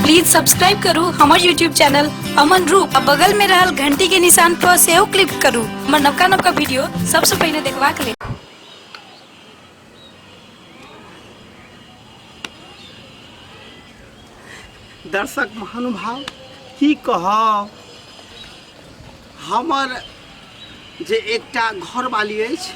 please subscribe करू हमर YouTube channel Aman Roop आ बगल में रहल घंटी के निशान पर सेहो क्लिक करू हमर नवका नवका वीडियो सबसे पहले देखबाक लेल दर्शक महानुभाव की कहब हमर जे एकटा घरवाली अछि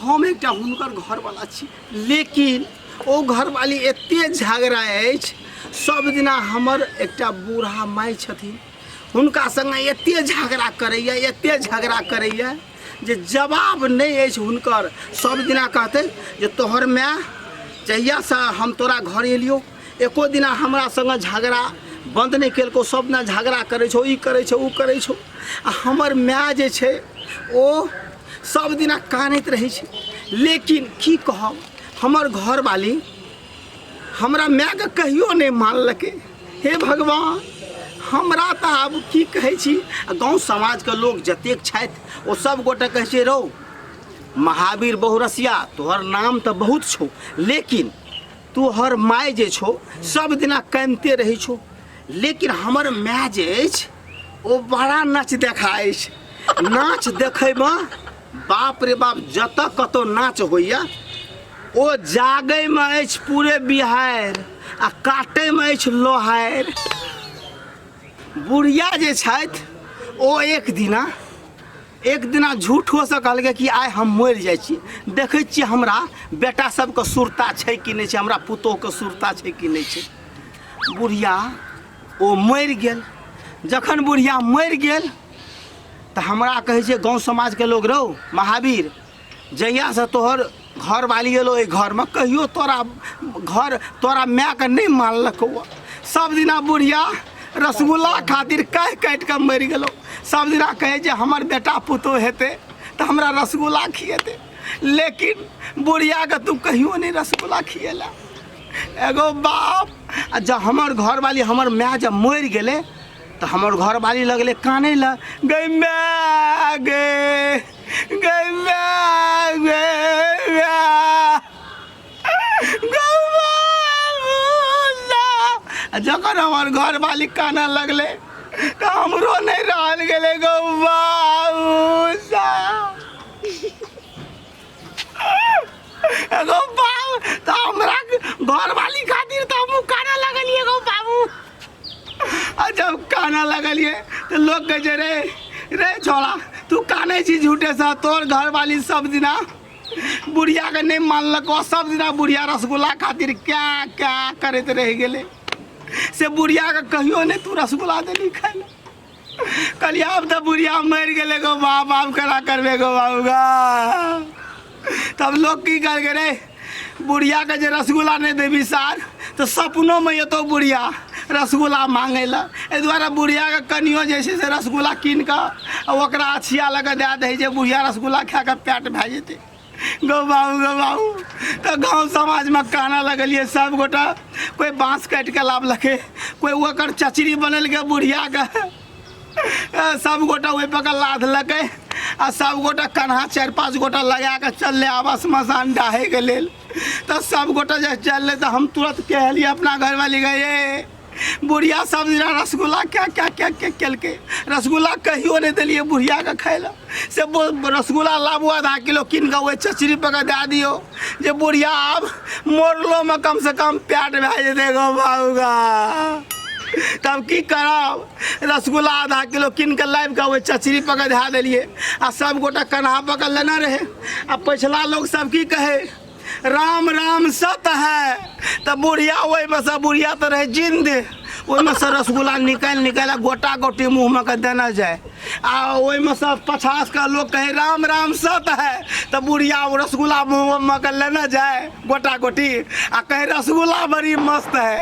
हम एकटा हुनकर घरवाला छी लेकिन ओ घरवाली एतेक झगड़ा अछि सब दिना हमर एकटा बूढ़ा माय छथिन हुनका सङ्गे एतेक झगड़ा करैए एतेक झगड़ा करैए जे जवाब नहि अछि हुनकर सब दिना कहतै जे तोहर माय जहियासँ हम तोरा घर एलियौ एको दिना हमरा संगे झगड़ा बन्द नहि केलको सब दिना झगड़ा करै छौ ई करै छौ ओ करै छौ आ हमर माय जे छै ओ सब दिना कानैत रहै छै लेकिन की कहब हमर घरवाली हमरा मायके कहियो नहि मानलकै हे भगवान हमरा तऽ आब की कहै छी आ गाँव समाजके लोक जतेक छथि ओ सब गोटे कहै छै रौ महावीर बहुरसिया तोहर नाम तऽ बहुत छौ लेकिन तोहर माय जे छौ सब दिना कानिते रहै छौ लेकिन हमर माय जे अछि ओ बड़ा नाच देखा अछि नाच देखैमे बाप रे बाप जतऽ कतौ नाच होइए ओ जागैमे अछि पूरे बिहारि आ काटैमे अछि लोहारि बुढ़िया जे छथि ओ एक दिना एक दिना झूठोसँ कहलकै कि आइ हम मरि जाइ छी देखै छियै हमरा बेटा सबके सुरता छै कि नहि छै हमरा पुतोहके सुरता छै कि नहि छै बुढ़िया ओ मरि गेल जखन बुढ़िया मरि गेल तऽ हमरा कहै छै गाँव समाजके लोग रौ महावीर जहियासँ तोहर घरवाली एलो एहि घरमे कहियो तोरा घर तोरा मायके नहि मानलकौ सब दिना बुढ़िया रसगुल्ला खातिर कहि काटि कऽ मरि गेलौ सब दिना कहै जे हमर बेटा पुतोह हेतै तऽ हमरा रसगुल्ला खिएतै लेकिन बुढ़ियाके तू कहियो नहि रसगुल्ला खिएला एगो बाप आ जब हमर घरवाली हमर माय जब मरि गेलै तऽ हमर घरवाली लगलै कानै लए गै माय गै आ जखन हमर घर मालिक काना लगले तऽ हमरो नहि रहल गेलै गौ बाबूसा एगो बाबू तऽ हमरा घर मालिक खातिर तऽ हमहूँ काना लगलियै गौ बाबू आ जब काना लगलिए तो लोग कहे छै, रे रे छोड़ा तू काने छी झूठे से तोर घर वाली सब दिना बुढ़िया के नहीं मानलको सब दिना बुढ़िया रसगुल्ला खातिर क्या क्या करते रह गेले से बुढ़िया के कहियो नहीं तू रसगुल्ला देली खाए ला कलिया अब तो बुढ़िया मर गए गो माँ बाप करा करबे गो बाबूगा तब लोग की कर रे बुढ़िया के जे रसगुल्ला नहीं देवी सार तो सपनों में ये तो बुढ़िया रसगुल्ला मांगे ला एहि दुआरे बुढ़िया के कनियो जे छै से रसगुल्ला कीन कऽ आ ओकरा अछिया लऽ कऽ दए दै छै जे बुढ़िया रसगुल्ला खा कऽ पेट भए जेतै गो बाबू गो बाबू तऽ गाँव समाजमे काना लगलियै सब गोटा कोइ बाँस काटि कऽ लाबलकै कोइ ओकर चचरी बनेलकै बुढ़ियाके ए, सब गोटा ओहि पर लादलकै आ सब गोटा कन्हा चारि पाँच गोटा लगा कऽ चललै आबा श्मशान डाहैके लेल तऽ सब गोटा जे चललै तऽ हम तुरंत कहलियै अपना घरवाली गए बुढ़िया सब दिना रसगुल्ला क्या क्या क्या क्या केलकै रसगुल्ला कहियो नहि देलियै बुढ़ियाके खाय लए से बो- रसगुल्ला लाबू आधा किलो कीन कऽ ओहि चचरी पर कऽ दए दियौ जे बुढ़िया आब मोड़लोमे कमसँ कम प्याट भए जेतै गो बाबूगा तब की करब रसगुल्ला आधा किलो कीन कऽ लाबि कऽ ओहि चचरी पर कऽ धए देलियै आ सभगोटा कन्हा पर कऽ लेने रहै आ पछिला लोक सब की कहै राम राम सत है तऽ बुढ़िया ओहिमे सँ बुढ़िया तऽ रहै जिन्दे ओहिमे सँ रसगुल्ला निकालि निकालि गोटा गोटी मुँहमे के देना जाए आ ओहिमे सँ पछास के लोक कहे राम राम सत है तऽ बुढ़िया ओ रसगुल्ला मुँहमे के लेना जाए गोटा गोटी आ कहे रसगुल्ला बड़ी मस्त है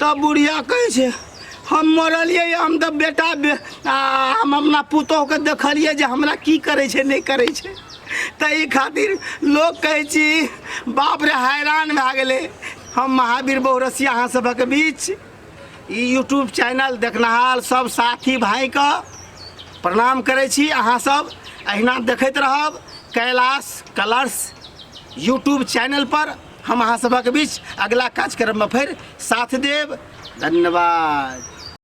तब बुढ़िया कहै छै हम मरलियै हम तऽ बेटा बे आ हम अपना पुतोहके देखलियै जे हमरा की करै छै नहि करै छै ताहि खातिर लोक कहै छी बाप रे हैरान भए गेलै हम महावीर बहुरसिया अहाँ सभक बीच ई यूट्यूब चैनल देखनिहार सब साथी भाइके प्रणाम करै छी अहाँसभ अहिना देखैत रहब कैलाश कलर्स यूट्यूब चैनलपर हम अहाँ सभक बीच अगिला कार्यक्रममे फेर साथ देब धन्यवाद